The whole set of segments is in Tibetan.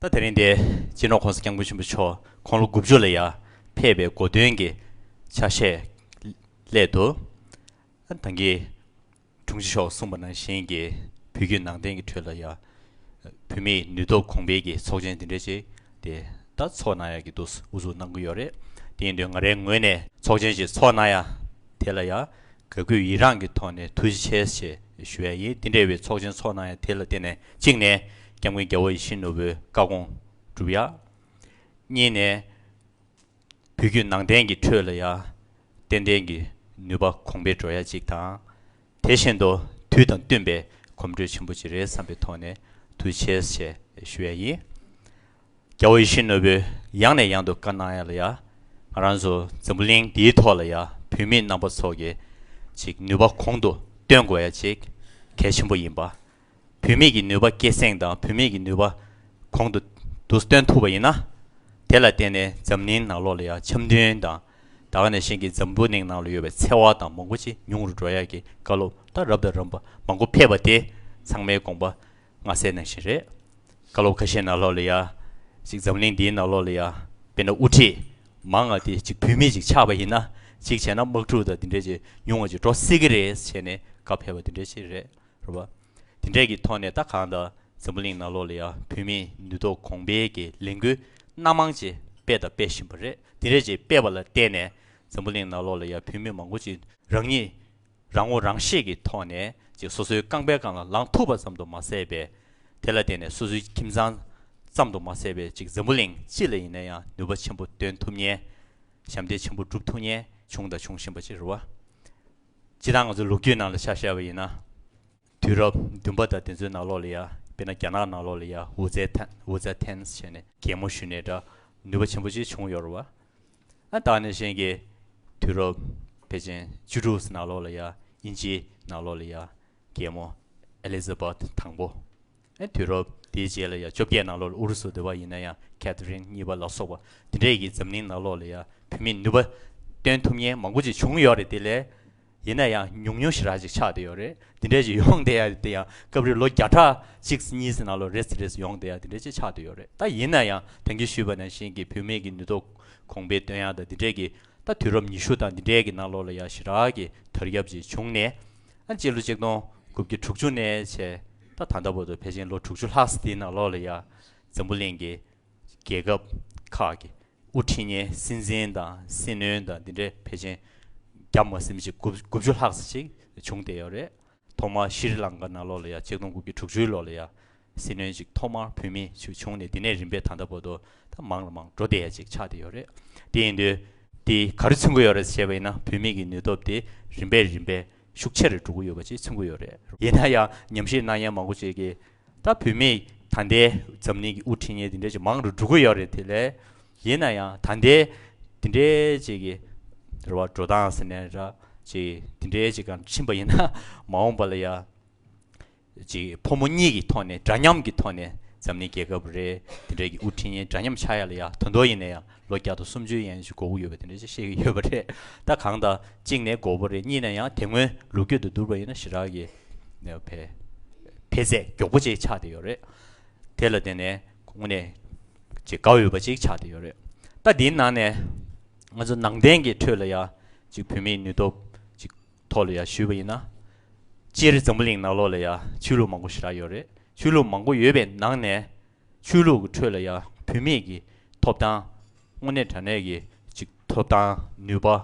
ད་དེ་རིང་འདི་སྤྱི་ནོར ྋགོང་ས ྋསྐྱབས་མགོན་ཆེན་པོ་མཆོག་ཁོང་ལོ་དགུ་བཅུ་ལ་ཡར་ཕེབས་པའི་དགོས་འདུན་གྱི་ཆ་ཤས་སླད་དུ། ད་གིན་དྲུང་ཆེ་མཆོག་གསུངས་པ་ནང་བཞིན་གྱི་བོད་བརྒྱུད་ནང་བསྟན་གྱི་ཁྲོད་ལ་ཡང་བོད་མིའི་ནུས་སྟོབས་གོང་འཕེལ་གྱི་ཚོགས་ཆེན་འདི་འདྲ་ཞིག་དེ་ད་ཚོགས་གནང་ཡག་གི་འདུག་དབུ་བཟུང་གནང་གི་ཡོད་རེད་དེ་ཡིན་དུས་ང་རའི་ངོས་ནས་ཚོགས་ཆེན་ཞིག་ཚོགས་གནང་ཡ། དེ་ལ་ཡང་ག་གུས་ཡི་རངས་ཀྱི་ཐོག་ནས་ཐུགས་རྗེ་ཆེ་ཞེས་ཞུ་བ་ཡིན་འདི་འདྲ་བའི་ཚོགས་ཆེན་ཚོགས་གནང་ཡང་དེ་ལ་བརྟེན་ནས་གཅིག་ནས་སྐྱབས་མགོན་རྒྱལ་བོ་ཡིད་བཞིན་ནོར་བུའི་བཀའ་དགོངས་གྲུབ་ཡ། གཉིས་ནས་བོད་བརྒྱུད་ནང་བསྟན་གྱི་ཁྲོད་ལ་ཡང་ཏན་ཏན་གྱི་ནུས་པ་གོང་འཕེལ་འགྲོ་ཡ་གཅིག་དང། དེ་བཞིན་དུ་དུས་དང་བསྟུན་པའི་གོམ་འགྲོས་ཆེན་པོ་ཅིག་རེད་བསམ་པའི་ཐོག་ནས་དུས་ཆེས་ཆེ་ཞུ་ཡ་ཡིན། རྒྱ་བོད་ཡིད་བཞིན་ནོར་བུས་ཡང་ནས་ཡང་དུ་བཀའ་གནང་ཡ་ལ་ཡ། ང་རང་ཚོ་འཛམ་བུ་གླིང་འདིའི་ཐོག་ལ་ཡ་བུད་མེད་རྣམ་པ་ཚོ་གི་ཅིག་ནུས་པ་གོང་དུ་བཏོན་དགོས་ཡ་ཅིག་གལ་ཆེན་པོ་ཡིན་པ་བུད་མེད་ཀྱི་ནུས་པ་སྐད་གསེང་དང་བུད་མེད་ཀྱི་ནུས་པ་གོང་དུ་བསྡུ་སྟོན་ཐུབ་པ་ཡིན་ན། དེ་ལ་བརྟེན་ནས་འཛམ་གླིང་ནང་ལོགས་ལ་ཡང་འཆམ་མཐུན་དང། ད་ག་ནས་གཞན་གྱི་འཛམ་བུ་གླིང་ནང་ལ་ཡོད་པའི་འཚེ་བ་དང་མང་པོ་ཅི་ཉུང་རུ་འགྲོ་ཡག་གི་བཀའ་སློབ་ད་རབ་དང་རམ་པ་མང་པོ་ཕེབས་པ་དེ་ཚང་མའི་དགོངས་པ་སྔ་སེ་ནང་བཞིན་རེད། བཀའ་སློབ་ཁ་ཤས་ནང་ལོགས་ལ་ཡ། ཅིག་འཛམ་གླིང་འདིའི་ནང་ལོགས་ལ་ཡ། དཔེར་ན་དབུ་ཁྲིད། མང་ང་དེ་ཅིག་བུད་མེད་ཅིག་ཆགས་པ་ཡིན་ན། ཅིག་བྱས་ན་དམག་འཁྲུག་དང་དེ་འདྲས་ཅིག་ཉུང་ང་ཅིག་འགྲོ་སྲིད་གི་རེད་ཅེས་ནས་བཀའ་ཕེབས་པ་དེ་འདྲས་ཅིག་རེད། རུ་བ། དེ་འབྲས་ཀྱི་ཐོག་ནས་ད་གང་ལྟར་འཛམ་བུ་གླིང་ནག་ལོག་ལ་ཡང་བུད་མེད་ནུས་སྟོབས་གོང་འཕེལ་གྱི་ལས་འགུལ་སྣ་མང་ཅིག་སྤེལ་དང་སྤེལ་བཞིན་པ་རེད་དེ་རེད་ཅིག་སྤེལ་བ་ལ་བརྟེན་ནས་འཛམ་བུ་གླིང་ནག་ལོག་ལ་ཡང་བུད་མེད་མང་པོ་ཅིག་རང་ཉིད་རང་ངོ་རང་ཤེས་ཀྱི་ཐོག་ནས་ཅིག་སོ་སོའི་རྐང་པའི་སྒང་ལ་ལངས་ཐུབ་པ་ཙམ་དུ་མ་ཟད་པའི་དེ་ལ་བརྟེན་ནས་སོ་སོའི་ཁྱིམ་ཚང་ཙམ་དུ་མ་ཟད་པའི་ཅིག་འཛམ་བུ་གླིང་སྤྱི་ལ་ཡིན་ན་ཡང་ནུས་པ་ཆེན་པོ་འདོན་ཐུབ་ཉེན་ཞབས་འདེགས་ཆེན་པོ་བསྒྲུབ་ཐུབ་ཉེན་བྱུང་དང་འབྱུང་བཞིན་པ་ཅིག་རུ་བ། སྤྱིར་བཏང་ང་ཚོའི་ལོ་རྒྱུས་ནང་ལ་ཆ་བཤད་པ་ཡིན་ན། དུས་རབས་བདུན་པ་དང་དེ་ཚོའི་ནང་ལོགས་ལ་ཡང་དཔེར་ན་རྒྱ་ནག་ནང་ལོགས་ལ་ཡང་ཝུ་ཙེ་ཐན Wu Zhe Tan ཞེས་ནས་རྒྱལ་མོ་ཞུས་ནས་འདྲ་ནུས་པ་ཆེན་པོ་ཅིག་བྱུང་ཡོད་རེད་བ། ཨ་ད་ནས་གཞན་གྱི་དུས་རབས་པེ་ཅིན་བཅུ་དྲུག་ཟེར་ནང་ལོགས་ལ་ཡང་དབྱིན་ཇིའི་ནང་ལོགས་ལ་ཡང་རྒྱལ་མོ Elizabeth དང་པོ། དུས་རབས་དེའི་རྗེས་ལ་ཡང་བཅོ་བརྒྱད་ནང་ལོགས་ལ་ཨུ་རུ་སུ་བསྡུ་བ་ཡིན་ན་ཡང་ཁེད་རིན་གཉིས་པ་ལ་སོགས་པ་འདི་འདྲས་ཀྱིས་འཛམ་གླིང་ནང་ལོགས་ལ་ཡང་བུད་མེད་ནུས་པ་སྟོན་ཐུབ་མཁན་མང་པོ་ཅིག་བྱུང་ཡོད་རེད་དེ་ལས་ཡིན་ན་ཡང་ཉུང་ཉུང་ཞིག་ར་ཅིག་ཆགས་བསྡད་ཡོད་རེད་འདི་འདྲས་ཅིག་ཡོང་བསྡད་ཡ་དེ་ཡང་སྐབས་རེ་ལོ་བརྒྱ་ཕྲག་གཅིག་ཟིན་གཉིས་ཟིན་ནང་ལོགས་རེས་རེས་ཡོང་བསྡད་ཡ་དེ་འདྲས་ཅིག་ཆགས་བསྡད་ཡོད་རེད་ད་ཡིན་ན་ཡང་དོན་གྱིས་ཞུས་པ་ནང་བཞིན་གྱི་བུད་མེད་ཀྱི་ནུས་སྟོབས་གོང་འཕེལ་སྟོན་ཡ་དང་འདི་འདྲས་ཀྱིས་ད་དུས་རབས་ཉི་ཤུ་དང་འདི་འདྲས་ཀྱི་ནང་ལོགས་ལ་ཡང་ཞི་དྲག་གི་དར་ཁྱབ་ཅིག་བྱུང་ནས་ཨ་གཅིག་ལོ་གཅིག་སྟོང་དགུ་བརྒྱ་དྲུག་ཅུ་ནས་བྱས། ད་ད་ལྟ་བར་དུ་ཕལ་ཆེན་ལོ་དྲུག་ཅུ་ལྷག་སི་ཏིའི་ནང་ལོགས་ལ་ཡང་འཛམ་བུ་གླིང་གི་རྒྱལ་ཁབ་ཁག་གི་དབུ་ཁྲིད་ཉེན་སྲིད་འཛིན་དང་སྲིད་བློན་དང་འདི་འདྲ་ཕལ་ཆེན་བརྒྱ་མ་སྲིད་མི་གཅིག་དགུ་བཅུ་ལྷག་ས་ཞིག་བྱུང་བསྡད་ཡོད་རེད། ཐོག་མར་ཤི་རི་ལང་ཀ་ནང་ལོགས་ལ་ཡང་གཅིག་སྟོང་དགུ་བརྒྱ་དྲུག་ཅུའི་ལོགས་ལ་ཡང་སྲིད་བློན་གཅིག་ཐོག་མར་བུད་མེད་ཅིག་བྱུང་ནས་དེ་ནས་རིམ་པས་ད་ལྟ་བར་དུ་ད་མང་ལ་མང་འགྲོ་བསྡད་ཡ་ཅིག་ཆགས་བསྡད་ཡོད་རེད། དེ་ཡིན་དུས་དེ་ག་རེ་མཚོན་གྱི་ཡོད་རེད་ཟེར་བྱས་པ་ཡིན་ན་བུད་མེད་ཀྱི་ནུས་སྟོབས་དེ་རིམ་པས་རིམ་པས་ཤུགས་ཆེ་རེ་འགྲོ་གི་ཡོད་པ་བཅས་མཚོན་གི་ཡོད་རེད། ཡིན་ན་ཡང་ཉམས་ཞིབ་གནང་མཁན་མང་པོ་བྱེད་ཀྱི། ད་བུད་མེད་ད་ལྟའི་འཛམ་གླིང་གི་དབུ་ཁྲིད་ངན་དེ་འདྲས་ཀྱི་མང་རུ་འགྲོ་གི་ཡོད་རེད་དེ་ལས། ཡིན་ན་ཡང་ད་ལྟའི་དེ་འདྲས་བཅས་ཀྱི་རེ་བ་འགྲོ་སྟངས་ཟེར་ནས་ར་བཅས་དེ་འདྲས་བཅས་ཀྱང་ཕྱིན་པ་ཡིན་ན་མ་འོངས་པ་ལ་ཡང། ཅིག་ཕོ་མོ་གཉིས་ཀྱི་ཐོག་ནས་འདྲ་མཉམ་གྱི་ཐོག་ནས་འཛམ་གླིང་རྒྱལ་ཁབ་རེ་དེ་འདྲ་གི་དབུ་ཁྲིད་ཡན་འདྲ་མཉམ་ཆགས་ཡ་ལ་ཡ་དོན་ཏོ་ཡིན་ན་ཡ་ལོ་བརྒྱ་དང་སུམ་ཅུ་ཡན་ཞིག་འགོ་དབུ་ཡོད་པ་དེ་འདྲ་ཅིག་བཤད་ཀྱི་ཡོད་པ་རེད་ད་གང་ལྟར་གཅིག་ནས་འགོ་བོ་རེད་གཉིས་ནས་ཡང་དེ་སྔོན་ལུགས་རྒྱུད་དུ་བསྡུར་བ་ཡིན་ན་ཞི་རགས་ཀྱི་བེ་བེ་ཟད་མགྱོགས་པོ་ཅིག་ཆགས་དེ་ཡོད་རེད་དེ་ལ་བརྟེན་ནས་དངོས་གནས་ཅིག་དགའ་འོས་པ་ཅིག་ཆགས་དེ་ཡོད་རེད་ད་འདིའི་ནང་ནས་ང་ཚོ་ནང་བསྟན་གྱི་ཁྲོད་ལ་ཡ་ཅིག་བུད་མེད་ནུས་སྟོབས་ཅིག་ཐོག་ལ་ཡང་ཞུས་པ་ཡིན་ན། སྤྱིར་འཛམ་བུ་གླིང་ནག་ལོགས་ལ་ཡང་ཆོས་ལུགས་མང་པོ་ཞི་རགས་ཡོད་རེད། ཆོས་ལུགས་མང་པོ་ཡོད་པའི་ནང་ནས། ཆོས་ལུགས་ཀྱི་ཁྲོད་ལ་ཡང་བུད་མེད་ཀྱི་ཐོབ་ཐང། དངོས་གནས་དྲ་གནས་ཀྱི་ཅིག་ཐོབ་ཐང་ནུས་པ།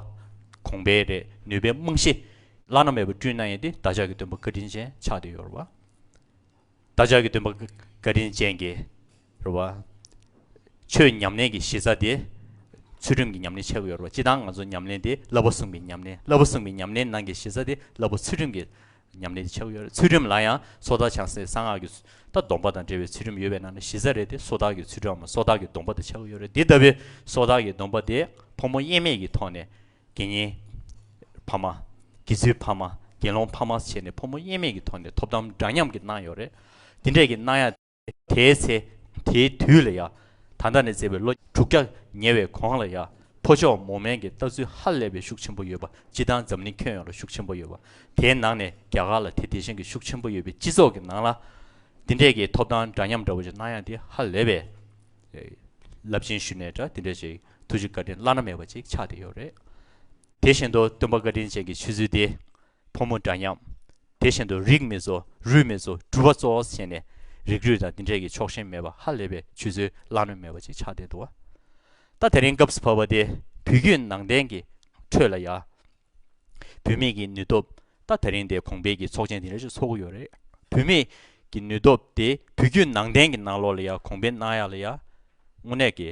གོང་འཕེལ་རེད་ནུས་པའི་རྨང་གཞི། བླ་ན་མེད་པ་བསྐྲུན་གནང་ཡིན་ཏེ་བདག་ཅག་གི་སྟོན་པ་བཀའ་དྲིན་ཅན་ཆགས་བསྡད་ཡོད་རེད་བ། བདག་ཅག་གི་འདུན་པ་བཀའ་དྲིན་ཅན་གྱི། རེ་བ། ཆོས་ཉམས་ལེན་གྱི་གཞི་རྩ་དེ། ཚུལ་ཁྲིམས་ཀྱི་ཉམས་ལེན་ཆགས་ཀྱི་ཡོད་རེ་བ་སྤྱི་དང་ང་ཚོ་ཉམས་ལེན་དེ་བསླབ་པ་གསུམ་གྱི་ཉམས་ལེན་བསླབ་པ་གསུམ་གྱི་ཉམས་ལེན་ནང་གི་གཞི་རྩ་དེ་བསླབ་པ་ཚུལ་ཁྲིམས་ཀྱི་ཉམས་ལེན་དེ་ཆགས་ཀྱི་ཡོད་རེད་ཚུལ་ཁྲིམས་ལ་ཡང་སོ་ཐར་ཆགས་སའི་གསང་སྔགས་ཀྱི་ཚུལ་ད་སྡོམ་པ་དང་འབྲེལ་བའི་ཚུལ་ཁྲིམས་ཡོད་པའི་ནང་ནས་གཞི་རྩ་རེད་དེ་སོ་ཐར་གྱི་ཚུལ་ཁྲིམས་འམ་སོ་ཐར་གྱི་སྡོམ་པ་དེ་ཆགས་ཀྱི་ཡོད་རེད་འདི་ལྟ་བུའི་སོ་ཐར་གྱི་སྡོམ་པ་དེ་ཕོ་མོ་དབྱེར་མེད་ཀྱི་ཐོག་ནས་དགེ་བསྙེན། ཕ་མ། དགེ་ཚུལ་ཕ་མ། དགེ་སློང་ཕ་མ་བྱས་ནས་ཕོ་མོ་དབྱེར་མེད་ཀྱི་ཐོག་ནས་ཐོབ་ཐང་འདྲ་མཉམ་གྱི་གནང་ཡོད་རེད། དེ་འདྲས་ཀྱི་གནང་ཡ། དེའི་ཚེ། དེའི་དུས་ལ་ཡ། ད་ལྟ་ནས་བརྩེ་བའི་ལོ་དྲུག་བརྒྱ་ཉེ་བའི་གོང་ལ་ཡ། ཕོ་མཆོག་མོ་དམན་གྱི་ལྟ་ཚུལ་ཧ་ལས་པའི་ཤུགས་ཆེན་པོ་ཡོད་པ་སྤྱི་བཏང་འཛམ་གླིང་ཁྱོན་ཡོངས་ལ་ཤུགས་ཆེན་པོ་ཡོད་པ། དེའི་ནང་ནས་རྒྱ་གར་ལ་དེ་དེ་བཞིན་གྱི་ཤུགས་ཆེན་པོ་ཡོད་པའི་སྤྱི་ཚོགས་ཀྱི་ནང་ལ། དེ་འདྲས་ཀྱི་ཐོབ་ཐང་འདྲ་མཉམ་འདྲ་བོ་ཞིག་གནང་ཡ་དེ་ཧ་ལས་པའི། རླབས་ཆེན་ཞུ་ནས་འདྲ་དེ་འདྲས་ཞིག། ཐུགས་རྗེ་བཀའ་དྲིན་བླ་ན་མེད་པ་ཅིག་ཆགས་བསྡད་ཡོད་རེད། དེ་བཞིན་དུ་སྟོན་པ་བཀའ་དྲིན་ཅན་གྱི་ཆོས་ཚུལ་དེ། ཕོ་མོ་འདྲ་མཉམ། དེ་བཞིན་དུ་རིགས་མེད་ཚོ་རུས་མེད་ཚོ་གྲུབ་པ་གཙོ་བོ་བྱས་ནས། རིགས་རུས་དང་དེ་འདྲས་ཀྱི་ཕྱོགས་ཞེན་མེད་པ་ཧ་ལས་པའི་ཆོས་ཚུལ་བླ་ན་མེད་པ་ཅིག་ཆགས་བསྡད་འདུག་ད་དེ་རིང་སྐབས་སུ་བབས་པ་དེ་བོད་བརྒྱུད་ནང་བསྟན་གྱི་ཁྲོད་ལ་ཡང། བུད་མེད་ཀྱི་ནུས་སྟོབས་ད་ད་རིང་དེ་གོང་འཕེལ་གྱི་ཚོགས་ཆེན་དེ་འདྲ་ཞིག་ཚོགས་ཀྱི་ཡོད་རེད། བུད་མེད་ཀྱི་ནུས་སྟོབས་དེ་བོད་བརྒྱུད་ནང་བསྟན་གྱི་ནང་ལོགས་ལ་ཡང་གོང་འཕེལ་གནང་ཡག་ལ་ཡང། དངོས་གནས་ཀྱི་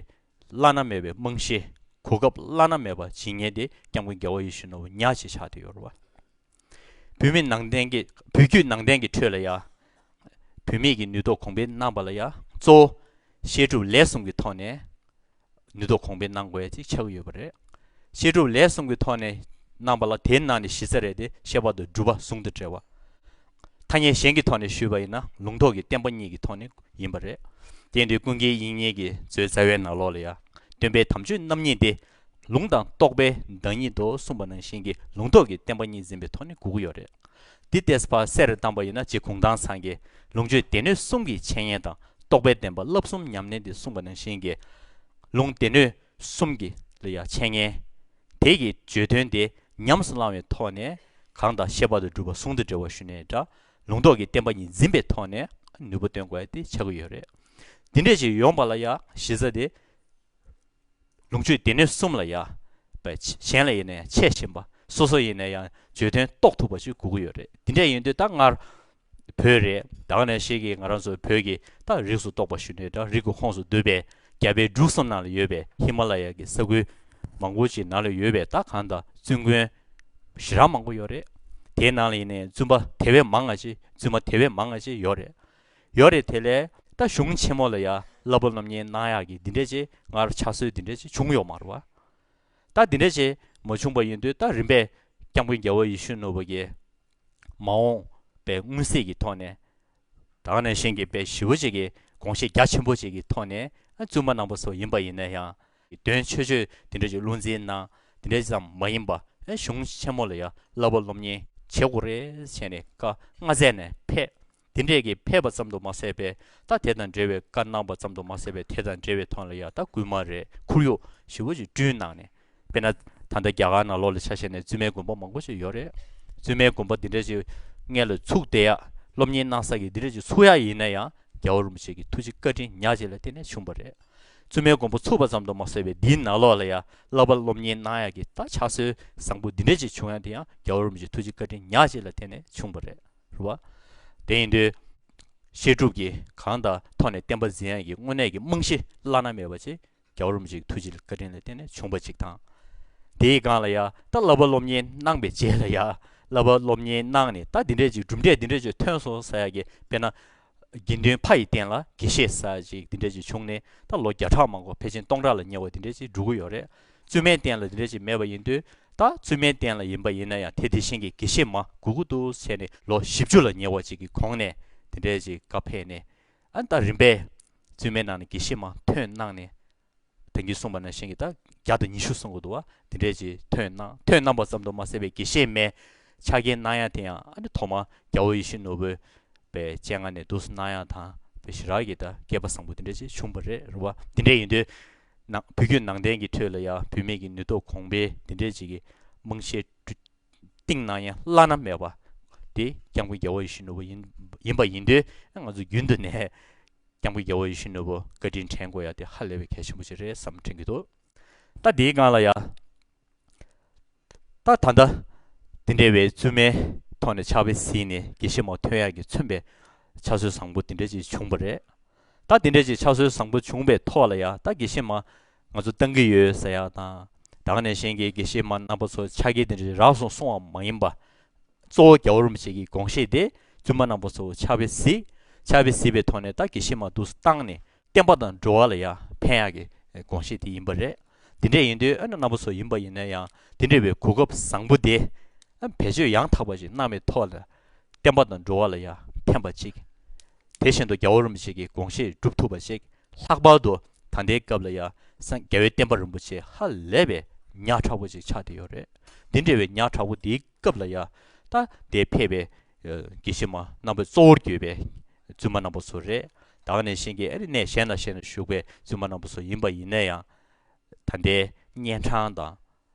བླ་ན་མེད་པའི་རྨང་གཞི་གོ་སྐབས་བླ་ན་མེད་པ་ཇི་སྙེད་དེ་སྐྱབས་མགོན་རྒྱལ་བ་ཡེ་ཤུ་ནོར་བུ་ཉག་ཅེས་ཕྱག་ཏུ་གཡོར་བ། བུད་མེད་ནང་བསྟན་གྱི་བུ་རྒྱུད་ནང་བསྟན་གྱི་ཁྲོད་ལ་ཡང། བུད་མེད་ཀྱི་ནུས་སྟོབས་གོང་འཕེལ་གནང་པ་ལ་ཡང་གཙོ་བོ་བཤད་སྒྲུབ་ལས་གསུམ་གྱི་ཐོག་ནས་ནུས་སྟོབས་གོང་འཕེལ་གནང་དགོས་ཅེས་ཕྱག་ཡོད་པ་རེད། བཤད་སྒྲུབ་ལས་གསུམ་གྱི་ཐོག་ནས་གནང་པ་ལ་དེའི་ནང་ནས་གཞི་རྩ་རེད་དེ་བཤད་པ་དང་སྒྲུབ་པ་ཟུང་དུ་འབྲེལ་བ། ཐ་སྙད་གཞན་གྱི་ཐོག་ནས་ཞུས་པ་ཡིན་ན་ལུང་རྟོགས་ཀྱི་བསྟན་པ་གཉིས་ཀྱི་ཐོག་ནས་ཡིན་པ་རེད། དེས་འདིར་ཀུན་མཁྱེན་དབྱིག་གཉེན་གྱི་མཛོད་རྩ་བའི་ནང་ལོགས་ལ་ཡང་སྟོན་པའི་དམ་ཆོས་རྣམ་གཉིས་ཏེ། ལུང་དང་རྟོགས་པའི་བདག་ཉིད་དུ་གསུངས་པ་ནང་བཞིན་གྱི་ལུང་རྟོགས་ཀྱི་བསྟན་པ་གཉིས་འཛིན་པའི་ཐོག་ནས་གུག་ཡོད་རེད། འདི་ལྟས་ཕར་གསལ་རེ་བཏང་པ་ཡིན་ན་རྗེ་གུང་ཐང་ཚང་གིས་ལུང་ཆོས་སྡེ་སྣོད་གསུམ་གྱི་འཆད་ཉན་དང་རྟོགས་པའི་བསྟན་པ་བསླབ་གསུམ་ཉམས་ལེན་ཏེ་གསུངས་པ་ནང་བཞིན་གྱི་ལུང་སྡེ་སྣོད་གསུམ་གྱི་ལ་ཡང་འཆད་ཉན་དེ་ཀྱི་བརྗོད་དོན་དེ་ཉམས་སུ་བླང་བའི་ཐོག་ནས་གང་དང་ཤེས་པ་དང་སྒྲུབ་པ་ཟུང་དུ་འབྲེལ་བ་ཞུ་ནས་འདྲ་ལུང་རྟོགས་ཀྱི་བསྟན་པ་ཉིད་འཛིན་པའི་ཐོག་ནས་ནུས་པ་སྟོན་དགོས་པ་དེ་ཆགས་ཀྱི་ཡོད་རེད། འདི་འདྲས་ཀྱི་ཡོངས་པ་ལ་ཡང་གཞི་རྩ་དེ། ལུང་ཆོས་སྡེ་སྣོད་གསུམ་ལ་ཡང་བས་གཞན་ལ་ཡིན་ན་ཡང་འཆད་བཞིན་པ་སོ་སོ་ཡིན་ན་ཡང་བརྗོད་དོན་རྟོགས་ཐུབ་པ་ཞིག་དགོས་ཀྱི་ཡོད་རེད། འདི་འདྲས་ཡིན་དུས་ད་སྔར་བོད་རེད་དྭགས་ནས་ཤེས་ཀི་ང་རང་ཚོ་བོད་ཀི་སྟག་རིགས་སུ་གཏོགས་པ་ཞུ་ནས་དྲག་རིགས་ཀི་ཁོངས་སུ་འདུས་པའི་རྒྱ་བལ་འབྲུག་སམ་ནང་ལ་ཡོད་པའི་ཧི་མ་ལ་ཡ་ཀི་ས་ཁུལ་མང་པོ་ཅིག་ནང་ལ་ཡོད་པའི་སྟག་གང་དང་བཙུན་དགོན་བཞི་རག་མང་པོ་ཡོད་རེད་དེའི་ནང་ལ་ཡིན་ནས་བཙུན་པ་དེ་བས་མང་ང་ཅི་བཙུན་མ་དེ་བས་མང་ང་ཅི་ཡོད་རེད་ཡོད་རེད་དེ་ལས་ད་གཞུང་ཆེན་མོ་ལ་ཡ་གླ་པོ་རྣམ་གཉིས་གནང་ཡག་གི་འདི་འདྲས་ཅིག་སྔར་ཆགས་སྲོལ་འདི་འདྲས་ཅིག་བྱུང་ཡོད་མ་རུ་བ་ད་འདི་འདྲས་ཅིག་མ་བྱུང་པ་ཡིན་དུས་ད་རིམ་པས་སྐྱང་པོ་རྒྱལ་བོ་ཡེ་ཤུ་ནོར་བུ་གི། མ་འོངས་པའི་མངོན་གསལ་གྱི་ཐོག་ནས། དག་ནས་བཞེངས་ཀྱི་དཔེ་ཞི་བོ་ཅིག་གི་དགོངས་བཞེད་རྒྱ་ཆེན་པོ་ཅིག་གི་ཐོག་ནས་བཙུན་པ་གནང་པ་སོགས་ཡིན་པ་ཡིན་ན་ཡང། དོན་ཆོས་ཆོས་དེ་འདྲ་ཞིག་བློ་འཛིན་ན་དེ་འདྲ་ཙམ་མ་ཡིན་པ་གཞུང་ཆེན་མོ་ལ་ཡང་བསླབ་པ་སློབ་གཉེར་བྱེད་དགོས་རེད་བྱས་ནས་བཀའ་མངགས་མཛད་ནས་ཕེབས། དེ་འདྲས་ཀྱིས་ཕལ་པ་ཙམ་དུ་མ་ཟད་པས་ད་དེ་དང་འབྲེལ་བའི་བཀའ་གནང་པ་ཙམ་དུ་མ་ཟད་པས་དེ་དང་འབྲེལ་བའི་དོན་ལ་ཡང་ད་གུས་མ་རེད་ཁུར་ཡོག་ཞི་བོ་ཅིག་བསྐྲུན་གནང་ནས་དཔེར་ན་ད་ལྟ་རྒྱ་གར་ནང་ལོག་ལ་ཆ་བཞག་ནས་བཙུན་མའི་དགོན་པ་མང་པོ་ཞིག་ཡོད་རེད་བཙུན་མའི་དགོན་པ་འདི་འདྲས་ཅིག་མངལ་ལ་ཚུགས་བསྡད་ཡ་སློབ་གཉེར་གནང་ས་ཀྱི་འདི་འདྲས་ཅིག་ཚུགས་ཡ་ཡིན་ན་ཡང་རྒྱལ་བ་རིན་པོ་ཆེ་གི་ཐུགས་རྗེ་བཀའ་དྲིན་ཉག་ཅིག་ལ་བརྟེན་ནས་བྱུང་བ་རེད་བཙུན་མའི་དགོན་པ་ཚུགས་པ་ཙམ་དུ་མ་ཟད་པས་འདིའི་ནང་ལོག་ལ་ཡ་བསླབ་པ་སློབ་གཉེར་གནང་ཡ་གི་ད་ཕྱག་སྲོལ་བཟང་པོ་འདི་འདྲས་ཅིག་བྱུང་ཡ་དེ་ཡང་རྒྱལ་བ་རིན་པོ་ཆེ་ཐུགས་རྗེ་བཀའ་དྲིན་ཉག་ཅིག་ལ་བརྟེན་ནས་བྱུང་བ་རེད། རུ་བ། དེ་ཡིན་ཏེ། བཤད་སྒྲུབ་ཀྱི་གང་དང་ཐོག་ནས་བསྟན་པ་འཛིན་ཡ་གྱི་དངོས་གནས་ཀྱི་རྨང་གཞི་བླ་ན་མེད་པ་ཅིག་རྒྱ་རོམ་གྱི་ཐུགས་རྗེ་བཀའ་དྲིན་ལ་བརྟེན་ནས་བྱུང་བ་ཅིག་དང། དེའི་སྒང་ལ་ཡ་ད་བསླབ་པ་སློབ་གཉེར་གནང་པའི་རྗེས་ལ་ཡ་བསླབ་པ་སློབ་གཉེར་གནང་ནས་ད་འདི་འདྲས་ཅིག་གྲུབ་འབྲས་འདི་འདྲས་ཅིག་ཐོན་སོང་ཟེར་ཡ་གི་དཔེར་ན། དགེ་འདུན་ཕ་ཡི་རྟེན་ལ་དགེ་བཤེས་ཟ་ཅིག་འདི་འདྲ་ཅིག་བྱུང་ནས་ད་ལོ་བརྒྱ་ཕྲག་མང་གོ་ཕལ་ཆེན་སྟོང་ཕྲག་ལ་ཉེ་བ་འདི་འདྲ་ཅིག་འགྲོ་གི་ཡོད་རེད། བཙུན་མའི་རྟེན་ལ་འདི་འདྲ་ཅིག་མེད་པ་ཡིན་དུས་ད་བཙུན་མའི་རྟེན་ལ་ཡིན་པ་ཡིན་ན་ཡང་དེ་དེ་བཞིན་གྱི་དགེ་བཤེས་མ་དགུ་དགུ་ཏུ་བྱས་ནས་ལོ་བཞི་བཅུ་ལ་ཉེ་བ་ཅིག་གི་གོང་ནས་འདི་འདྲ་ཅིག་བཀའ་ཕེབས་ནས་ཨ་ད་རིམ་པས་བཙུན་མའི་ནང་ནས་དགེ་བཤེས་མ་ཐོན་གནང་ནས་དོན་གྱིས་གསུངས་པ་ན་གཞན་གྱི་དག་རྒྱག་ཏུ་ཉི་ཤུ་གསུངས་གོ་འདུག་བ་འདི་འགྲེལ་གྱི་དོན་སྣང་དོན་སྣང་བ་ཙམ་དུ་མ་ཟད་པའི་དགེ་བཤེས་སྨྲའི་ཕྱག་རྒྱའི་སྣང་ཡང་དེ་ཡང་ཨ་ནི་ཐོག་མ་རྒྱ་བོད་ཡེ་ཤེས་ནོར་བུའི་པའི་སྤྱན་སྔ་ནས་དུ་སུ་སྣང་ཡང་དང་བའི་ཞི་རགས་ཀྱི་དག་སྐལ་པ་བཟང་པོ་འདི་འགྲེལ་གྱིས་བྱུང་བ་རེད་རུང་བ་འདི་འདྲ་ཡིན་དུས་ན་བུ་རྒྱུད་ནང་བསྟན་གྱི་ཁྲོད་ལ་ཡང་བུད་མེད་ཀྱི་ནུས་སྟོབས་གོང་འཕེལ་འདི་འགྲེལ་བྱེད་ཀྱི་དམངས་གཞས་བཀྲུ། སྟེང་ན་ཡང་བླ་ན་མེད་པ། དེ་སྐྱབས་མགོན་རྒྱལ་བ་ཡེ་ཤུ་ནོར་བུ་ཡིན་ཡིན་པ་ཡིན་དུས་ང་ཚོ་རྒྱུན་དུ་ནས་སྐྱབས་མགོན་རྒྱལ་བ་ཡེ་ཤུ་ནོར་བུ་བཀའ་དྲིན་དྲན་དགོས་ཡ་དེ་ཧ་ལས་པའི་གལ་ཆེན་པོ་ཞིག་རེད་བསམ་དྲན་གྱི་འདུག་ད་དེའི་སྒང་ལ་ཡ། ད་ད་ལྟ་དེ་འདྲ་བའི་བཙུན་མའི་ཐོག་ནས་ཕྱག་དཔེ་གཟིགས་ནས་དགེ་བཤེས་མོ་ཐོན་ཡག་གི་མཚོན་པའི་ཕྱག་སྲོལ་བཟང་པོ་དེ་འདྲ་ཅིག་བྱུང་པ་རེད། ད་དེ་འདྲ་ཅིག་ཕྱག་སྲོལ་བཟང་པོ་བྱུང་པའི་ཐོག་ལ་ཡ་ད་དགེ་བཤེས་མ་ང་ཚོ་བཏང་གི་ཡོད་ཟེར་ཡག་དང། དྭགས་ནས་གཞན་གྱི་དགེ་བཤེས་མ་རྣམ་པ་ཚོ་ཕྱག་འཁྱེར་དེ་འདྲའི་རགས་སོང་སོང་བ་མ་ཡིན་པ། གཙོ་བོ་རྒྱ་བོར་མི་བྱེད་ཀྱི་དགོངས་བཞེས་དེ་བཙུན་མ་རྣམ་པ་ཚོ་ཕྱག་དཔེ་གཟིགས། ཕྱག་དཔེ་གཟིགས་པའི་ཐོག་ནས་ད་དགེ་བཤེས་མ་འདུག་ས་བཏང་ནས་བསྟན་པ་དང་འགྲོ་བ་ལ་ཡང་ཕན་ཡག་གི་དགོངས་བཞེས་དེ་ཡིན་པ་རེད། དེ་འདྲས་ཡིན་དུས་ཨ་ན་རྣམ་པ་ཚོ་ཡིན་པ་ཡིན་ན་ཡང་དེ་འདྲས་པའི་གོ་སྐབས་བཟང་པོ་དེ། བེད་སྤྱོད་ཡང་དག་པ་ཞིག་གནང་བའི་ཐོག་ལ། བསྟན་པ་དང་འགྲོ་བ་ལ་ཡང་ཕན་པ་ཅིག། དེ་བཞིན་དུ་རྒྱལ་བ་རིན་པོ་ཆེ་གི་དགོངས་བཞེད་སྒྲུབ་ཐུབ་པ་ཞིག་ལྷག་པར་དུ་ད་ལྟའི་སྐབས་ལ་ཡང་སངས་རྒྱ་བའི་བསྟན་པ་རིན་པོ་ཆེ་ཧ་ལས་པའི་ཉག་ཕྲ་བོ་ཅིག་ཆགས་བསྡད་ཡོད་རེད། འདི་འདྲ་བའི་ཉག་ཕྲ་བོ་འདིའི་སྐབས་ལ་ཡང་ད་ལྟའི་ཕལ་པའི་དགེ་བཤེས་མ་རྣམ་པ་གཙོ་བོར་གྱུར་པའི་བཙུན་མ་རྣམ་པ་ཚོ་རེད། དྭགས་ནས་གཤེན་གྱི་ཨ་རི་གནས་གཞན་ན་གཞན་ན་བཞུགས་པའི་བཙུན་མ་རྣམ་པ་ཚོ་ཡིན་པ་ཡིན་ན་ཡང། ད་ལྟའི་གཉན་འཕྲང་དང།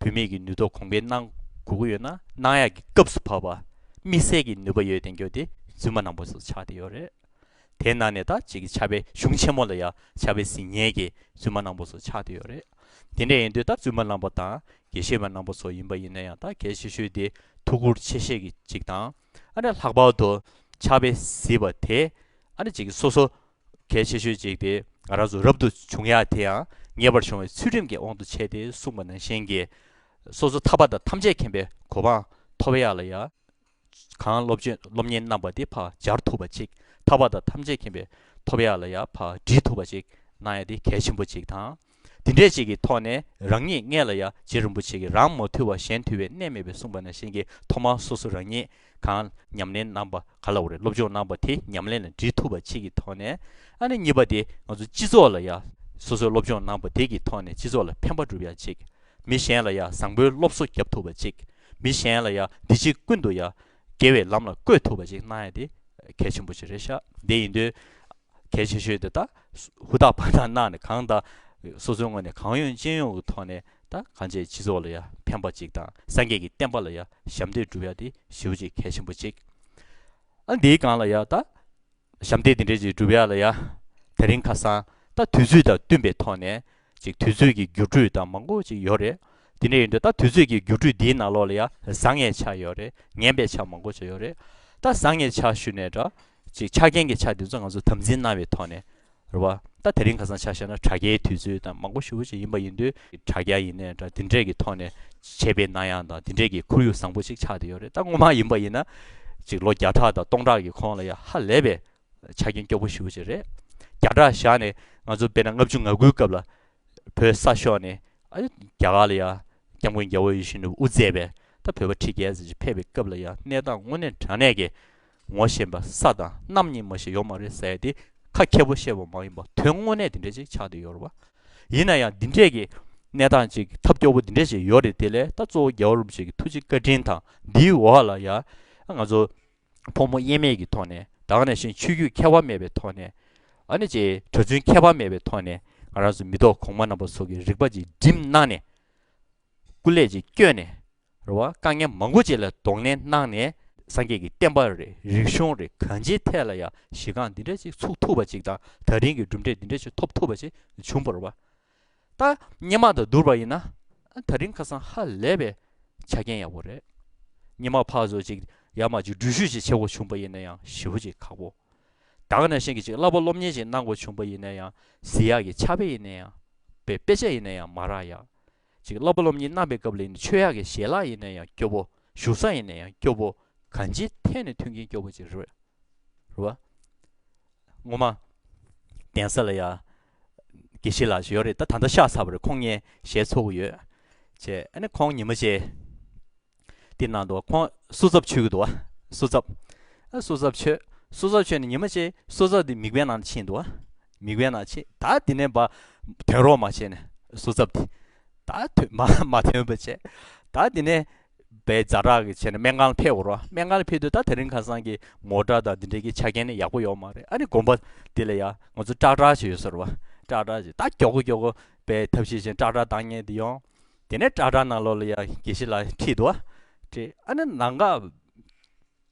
བུད་མེད་ཀྱི་ནུས་སྟོབས་གོང་འཕེལ་གནང་དགོས་ཀྱི་ཡོད་ན་གནང་ཡག་གི་སྐབས་སུ་བབས་པ་དམིགས་བསལ་གྱི་ནུས་པ་ཡོད་དེ་འགྱོ་དེ་རྫུན་མ་ནང་པོ་སོགས་ཆགས་ཏེ་ཡོད་རེད་དེ་ནང་ནས་ད་ཅིག་གི་ཆབ་པའི་གཞུང་ཆེན་མོ་ལ་ཡང་ཆབ་པའི་ཟིན་ཉེས་ཀྱི་རྫུན་མ་ནང་པོ་སོགས་ཆགས་ཏེ་ཡོད་རེད་དེ་འདྲ་ཡིན་དུས་ད་རྫུན་མ་ནང་པོ་དང་དགེ་བཤེས་མ་ནང་པོ་སོགས་ཡིན་པ་ཡིན་ན་ཡང་ད་གལ་ཆེ་ཤོས་དེ་ཐུགས་ཁུར་ཆེ་བཞེས་ཀྱི་ཅིག་དང་ཨ་འདྲ་ལྷག་པར་དུ་ཆབ་པའི་ཟིལ་པ་དེ་ཨ་འདྲ་ཅིག་གི་སོ་སོ་གལ་ཆེ་ཤོས་གཅིག་དེ་ང་རང་ཚོ་རབ་ཏུ་བྱུང་ཡ་དེ་ཡང་ངེས་པར་བྱུང་བའི་ཚུལ་ཁྲིམས་ཀྱི་དབང་དུ་བྱས་ཏེ་གསུངས་པ་ནང་བཞིན་གྱི། སོ་སོ་ཐར་པ་དང་ཐམས་ཅད་མཁྱེན་པའི་གོ་འཕང་ཐོབ་ཡ་ལ་ཡ། གང་སློབ་སྤྱོད་སློབ་གཉེར་རྣམ་པ་དེ་ཕར་སྦྱར་ཐུབ་པ་ཅིག་ཐར་པ་དང་ཐམས་ཅད་མཁྱེན་པའི་ཐོབ་ཡ་ལ་ཡ་ཕར་འདྲིས་ཐུབ་པ་ཅིག་གནང་ཡ་དེ་གལ་ཆེན་པོ་ཅིག་དང། འདི་འདྲས་ཅིག་གི་ཐོག་ནས་རང་ཉིད་མངལ་ལ་ཡང་རྗེ་རིན་པོ་ཆེ་གིས་རང་མ་ཐུལ་བར་གཞན་ཐུལ་བའི་གནས་མེད་པས་གསུངས་པ་ན་གཞན་གྱིས་ཐོག་མར་སོ་སོ་རང་ཉིད་གང་ཉམས་ལེན་གནང་པ་ག་ལ་བ་རེད་སློབ་སྦྱོང་གནང་པ་དེ་ཉམས་ལེན་ལ་འདྲིས་ཐུབ་པ་ཅིག་གི་ཐོག་ནས་ཨ་ནི་གཉིས་པ་དེ་ང་ཚོ་སྤྱི་ཚོགས་ལ་ཡང་སོ་སོའི་སློབ་སྦྱོང་གནང་པ་དེ་གི་ཐོག་ནས་སྤྱི་ཚོགས་ལ་ཕན་པ་སྒྲུབ་ཡ་ཅིག་མི་གཞན་ལ་ཡང་བཟང་པོའི་སློབ་གསོ་བརྒྱབ་ཐུབ་པ་ཅིག་མི་གཞན་ལ་ཡང་འདི་ཕྱི་ཀུན་ཏུ་ཡང་དགེ་བའི་ལམ་ལ་བཀོད་ཐུབ་པ་ཅིག་གནང་ཡ་དེ་གལ་ཆེན་པོ་ཅིག་རེད་ཤག་དེ་ཡིན་དུས། གལ་ཆེ་ཤོས་དེ་དག་ཧུར་ཐག་པར་ཐག་གནང་ནས་གང་དང། སོ་སོའི་ངོས་ནས་གང་ཡོང་ཅི་ཡོང་གི་ཐོག་ནས་དང་གང་བྱས་སྤྱི་ཚོགས་ལ་ཡ་ཕན་པ་ཅིག་དང་སངས་རྒྱས་ཀྱི་བསྟན་པ་ལ་ཡ་ཞབས་འདེགས་བསྒྲུབ་ཡ་དེ་ཞི་བ་ཅིག་གལ་ཆེན་པོ་ཅིག་ཨ་འདིའི་སྒང་ལ་ཡ་ད་ཞབས་འདེགས་དེ་འདྲས་ཅིག་བསྒྲུབ་ཡ་ལ་ཡ་དེ་རིང་ཁ་སང་ད་དུས་ཚོད་དང་བསྟུན་པའི་ཐོག་ནས་ཅིག་དུས་ཚོད་ཀྱི་འགྱུར་འགྲོས་དང་མང་པོ་ཅིག་ཡོད་རེད་དེ་འདྲས་ཡིན་དུས་ད་དུས་ཚོད་ཀྱི་འགྱུར་འགྲོས་འདིའི་ནང་ལོགས་ལ་ཡ་བཟང་ངན་ཆ་ཡོད་རེད་ངན་པའི་ཆ་མང་པོ་ཅིག་ཡོད་རེད་ད་བཟང་ངན་ཆ་ཞུ་ནས་འདྲ་ཅིག་ཆ་རྐྱེན་གྱི་ཆ་དེ་ཚོ་ང་ཚོས་དམ་འཛིན་གནང་བའི་ཐོག་ནས་རེད་བ། ད་དེ་རིང་ག་ཚང་ཆ་བཤད་ན་དྲ་རྒྱའི་དུས་ཚོད་དང་མང་པོ་ཞུ་བ་ཅིག་ཡིན་པ་ཡིན་དུས། དྲ་རྒྱ་ཡིན་ནས་དྲ་དེ་འདྲས་ཀྱི་ཐོག་ནས་བྱས་པའི་ན་ཡང་དང་དེ་འདྲས་ཀྱི་ཁོར་ཡུག་བཟང་པོ་ཅིག་ཆགས་ཏེ་ཡོད་རེད་ད་ངོ་མ་ཡིན་པ་ཡིན་ན། ཅིག་ལོ་བརྒྱ་ཕྲག་དང་སྟོང་ཕྲག་གི་ཁོངས་ལ་ཡ་ཧ་ལས་པའི་ཆ་རྐྱེན་སྐྱོ་པོ་ཞུ་བ་ཅིག་རེད། བརྒྱ་ཕྲག་བཞག་ནས་ང་ཚོ་དཔེར་ན་ལྔ་བཅུ་ང་དགུའི་སྐབས་ལ། བོད་ས་ཤོག་ནས་ཨ། རྒྱ་གར་ལ་ཡ། སྐྱབས་མགོན་རྒྱལ་བོ་ཡེ་ཤུ་ནས་དབུ་མཛད་པས་ད་བོད་པ་ཁྲི་བརྒྱད་ཟེར་ཅིག་ཕེབས་པའི་སྐབས་ལ་ཡ་གནས་སྟངས་དངོས་གནས་དྲང་གནས་ཀྱི་ངོ་ཤེས་པ་ས་དང་གནམ་གཉིས་མ་ཞིག་ཡོད་མ་རེད་ཟེར་ཏེ་ཁ་མཁས་པོ་བཤད་པ་མ་ཡིན་པར་དོན་དངོས་གནས་དེ་འདྲས་ཅིག་ཆགས་འདི་ཡོད་རེད་བ། ཡིན་ན་ཡང་འདི་འདྲས་ཀྱི་གནས་སྟངས་ཅིག་ཐབས་སྐྱོ་བོ་འདི་འདྲས་ཅིག་ཡོད་རེད་དེ་ལས་ད་གཙོ་བོ་རྒྱལ་བ་རིན་པོ་ཆེ་གི་ཐུགས་རྗེ་བཀའ་དྲིན་དང་འདིའི་འོག་ལ་ཡང་ང་ཚོ་ཕོ་མོ་དབྱེར་མེད་ཀྱི་ཐོག་ནས་དྭངས་ནས་ཤིང་ཆུ་རྒྱུས་ཁྱད་པར་མེད་པའི་ཐོག་ནས་ཨ་ནི་ཅེས་གྲྭ་བཙུན་ཁྱད་པར་མེད་པའི་ཐོག་ནས་ང་རང་ཚོ་མི་ཐོག་གོང་མ་རྣམ་པ་སོགས་ཀྱི་རིག་པ་ཅིག་སྒྲིམ་གནང་ནས་སྐུ་ལས་ཅིག་བསྐྱོན་ནས་རེ་བ་དཀའ་ངལ་མང་པོ་ཅིག་ལ་གདོང་ལེན་གནང་ནས། སངས་རྒྱས་ཀྱི་བསྟན་པ་རེ་རིག་གཞུང་རེ་གང་ཅིའི་ཐད་ལ་ཡང་གཞི་རྐང་འདི་འདྲ་ཅིག་ཚུགས་ཐུབ་པ་ཅིག་དང་ད་རིང་གི་གྲུབ་འབྲས་འདི་འདྲ་ཅིག་ཐོབ་ཐུབ་པ་ཅིག་བྱུང་བར་བ་ད་སྙན་མ་དང་བསྡུར་བ་ཡིན་ན་ད་རིང་ཁ་སང་ཧ་ལས་པའི་ཆ་རྐྱེན་ཡག་པོ་རེད། སྙན་མ་ཕག་བཟོ་ཅིག་ཡར་མར་ཅིག་འགྲུལ་བཞུད་ཅིག་བྱེད་དགོས་བྱུང་བ་ཡིན་ན་ཡང་ཞི་བོ་ཅིག་ཁག་པོ་དག་ནས་བཞིན་གྱི་ཅིག་སླ་པོ་སློབ་གཉེར་ཅིག་གནང་དགོས་བྱུང་བ་ཡིན་ན་ཡང་བཟི་ཡག་གི་ཆ་བེ་ཡིན་ན་ཡང་བེ་དཔེ་ཆ་ཡིན་ན་ཡང་མ་རག་ཡག་ཅིག་སློབ་པ་སློབ་གཉེར་རྣམ་པའི་སྐབས་ལས་ནི་ཆོས་ཡག་གི་ཞལ་ལག་ཡེ་ནས་ཡང་སྐྱོབ་བོ། བཞུགས་ས་ཡེ་ནས་ཡང་སྐྱོབ་བོ། གང་ཅིའི་ཐད་ནས་མཐུན་རྐྱེན་སྐྱོབ་བོ་ཅིག་རེད། རེད། ངོ་མ། གདན་ས་ལ་ཡང། དགེ་བཤེས་ལགས་ཞིག་ཡོད་རེད་ད་ད་ལྟ་ཤག་ཚར་བ་རེད་ཁོང་གཉེན་ཞལ་འཚོལ་དགོས་ཡོད། ཅེས་ཨ་ནི་ཁོང་ཉིན་མོ་ཆེ། དེ་ནང་དུ་ཁོང་སོ་ཙབ་ཆོས་ཀྱི་འདུག་ཨ་སོ་ཙབ། ཨ་སོ་ཙབ་ཆོས། སོ་ཙབ་ཆོས་ནི་ཉི་མ་ཅེས་སོ་ཙབ་དེ་མིག་དཔེ་ནང་དུ་ཕྱིན་འདུག་ཨ། མིག་དཔེ་ནང་ཕྱིན་ད་དེ་ནས་བ་དོན་རོགས་མ་བྱས་ནས་སོ་ཙབ་དེ། ད་དོན་མ་མ་དོན་བ་བྱས། ད་དེ་ནས་བའི་རྫ་བྲག་གི་བྱས་ནས་སྨན་ཁང་ལ་ཕེབས་རོགས་སྨན་ཁང་ལ་ཕེབས་དུས་ད་དེ་རིང་ཁ་སང་གི་ངོ་དགྲ་དང་དེ་འདྲའི་གི་ཆ་རྐྱེན་ནི་ཡག་པོ་ཡོད་མ་རེད་ཨ་ནི་གོམ་པ་དེ་ལ་ཡ་ང་ཚོ་སྐྲག་སྐྲག་བྱས་ཡོད་ཟེར་རོ། སྐྲག་སྐྲག་བྱས་ད་སྐྱོ་གོ་སྐྱོ་གོ་བའི་ཐབས་ཤེས་བྱས་སྐྲག་སྐྲག་བཏང་ཉེན་དེ་ཡོང། དེ་ནས་བཀྲག་བཀྲག་ནང་ལོག་ལ་ཡང་དགེ་བཤེས་ལ་ཁྲིད་དོ། ཁྲིད་ཨ་ནི་ནང་འགག།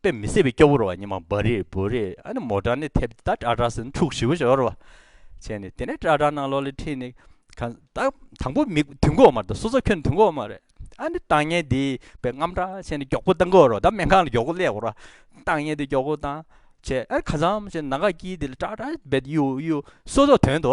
དཔེ་མི་སྲིད་པའི་སྐྱོ་བོར་བ་ཉི་མ་འབར་རེས་འབོར་རེས་ཨ་ནི་མོ་བྲག་ནས་ཐེབས་ཏེ་ད་བཀྲག་བཀྲག་ཟེར་ནས་ཕྲུག་བཞི་བོ་ཤོར་བ། བྱས་ནས་དེ་ནས་བཀྲག་བཀྲག་ནང་ལོག་ལ་ཁྲིད་ནས། གང་ཟག་དང་པོ་མི་དུས་འགོག་མ་རེད་སོ་སོ་ཁྱོད་དུས་འགོག་མ་རེད། ཨ་ནི་བཏང་བརྙན་དེས་པའི་རྔམ་དྲག་བྱས་ནས་མགྱོགས་པོ་བཏང་གོ་རོགས་ད་སྨན་ཁང་ལ་མགྱོགས་པོ་སླེབས་གོ་རོགས། བཏང་བརྙན་དེ་མགྱོགས་པོ་བཏང། བྱས་ཨ་ནི་གང་ཟག་བྱས་ནང་འགག་དཀྱིལ་དེ་ལ་བཀྲག་བཀྲག་རྦད་དེ་གཡུག་གཡུག་གཡུག་གཡུག་གསོ་སོགས་དོན་དུ།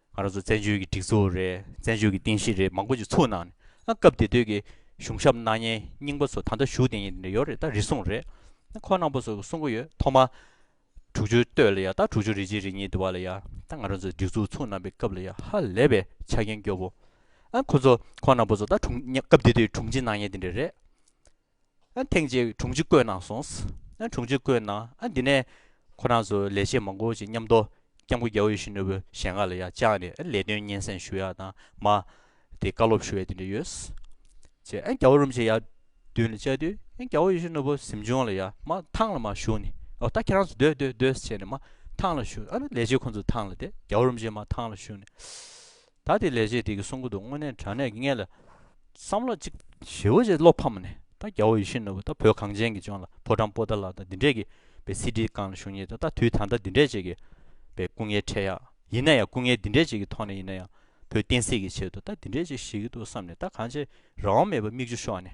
ང་རང་ཚོ་བཙན་བྱོལ་གྱི་སྒྲིག་འཛུགས་རེད་བཙན་བྱོལ་གྱི་རྟེན་གཞི་རེད་མང་པོ་ཞིག་ཚུགས་གནང་ནས་སྐབས་དེ་དུས་ཀྱི་གཞུང་ཞབས་སྣ་བརྙན་རྙིང་པ་ཚོ་ད་ལྟ་བཞུགས་གདན་ཡོད་རེད་ད་རེ་ཟུང་རེད་ཁོ་ནང་པོ་ཚོ་གསུང་གི་ཡོད་ཐོག་མ་དྲུག་ཅུ་སྟོད་ལ་ཡ་ད་དྲུག་ཅུ་རེ་གཅིག་རེ་གཉིས་དུ་བ་ལ་ཡ་ད་ང་རང་ཚོ་སྒྲིག་འཛུགས་ཚུགས་གནང་པའི་སྐབས་ལ་ཡ་ཧ་ལས་པའི་ཆ་རྐྱེན་སྐྱོ་བོ་ཨ་ཁོ་ཚོ་ཁོ་ནང་པོ་ཚོ་ད་དྲུང་སྐབས་དེ་དུས་དྲུང་ཆེ་སྣ་བརྙན་དེ་འདྲ་རེད། ཐེངས་གཅིག་དྲུང་ཆེ་བསྐོས་གནང་སོང། དྲུང་ཆེ་བསྐོས་གནང་འདི་ནས་ཁོ་རང་ཚོ་ལས་བྱེད་མང་པོ་ཞིག་མཉམ་དུ་སྐྱབས་མགོན་རྒྱ་བོད་ཡུལ་ཤུལ་ནོར་བུ་ཞལ་སྔ་ལ་ཡང་བཅར་ནས་ལས་དོན་སྙན་སེང་ཞུ་ཡག་དང་མ་དེ་བཀའ་སློབ་ཞུ་བའི་དེ་འདྲ་ཡོད། ཅེས་རྒྱ་བོད་རུམ་ཆེན་ཡར་བསྡུས་ནས་བཅར་དུས་རྒྱ་བོད་ཡུལ་ཤུལ་ནོར་བུ་གཟིམ་ཆུང་ལ་ཡང་མ་ཐང་ལ་མ་བཞུགས་ནས་ཨོ་ད་ཁྱེད་རང་ཚོ་སྡོད་སྡོད་སྡོད་ཟེར་ནས་མ་ཐང་ལ་བཞུགས་ཨ་ལས་བྱེད་ཁོང་ཚོ་ཐང་ལ་བསྡད་རྒྱ་བོད་རུམ་ཆེན་མ་ཐང་ལ་བཞུགས་ནས། ད་དེ་ལས་བྱེད་དེ་གི་གསུང་གོ་དུ་དངོས་གནས་དྲང་གནས་ཀྱི་ངེས་ལ། བསམ་བློ་གཅིག། ཞེ་བོ་ཅེས་བློ་ཕམ་མ་ནས་ད་རྒྱ་བོ་ཡི་ཤི་ནུ་བོ་ད་བོད་གངས་ཅན་གྱི་ལྗོངས་ལ་ཕོ་བྲང་པོ་ཏཱ་ལ་ད་འདི་འདྲས་ཀྱི་བའི་སི་ཏི་ཀང་ལ་ཞུགས་ཉེས་ད་ད་དུས་ད་ལྟ་འདི་འདྲས་བྱེད་ཀྱི་བའི་སྐུ་ངལ་འཕྲད་ཡག་ཡིན་ན་ཡང་སྐུ་ངལ་འདི་འདྲས་བྱེད་ཀྱི་ཐོག་ནས་ཡིན་ན་ཡང་བོད་བསྟན་སྲིད་ཀྱི་ཆེད་དུ་ད་འདི་འདྲས་ཅིག་བྱེད་ཀྱི་འདུག་བསམ་ནས་ད་གང་བྱེད་རང་དབང་མེད་པར་མིག་ཆུ་ཤོར་ནས།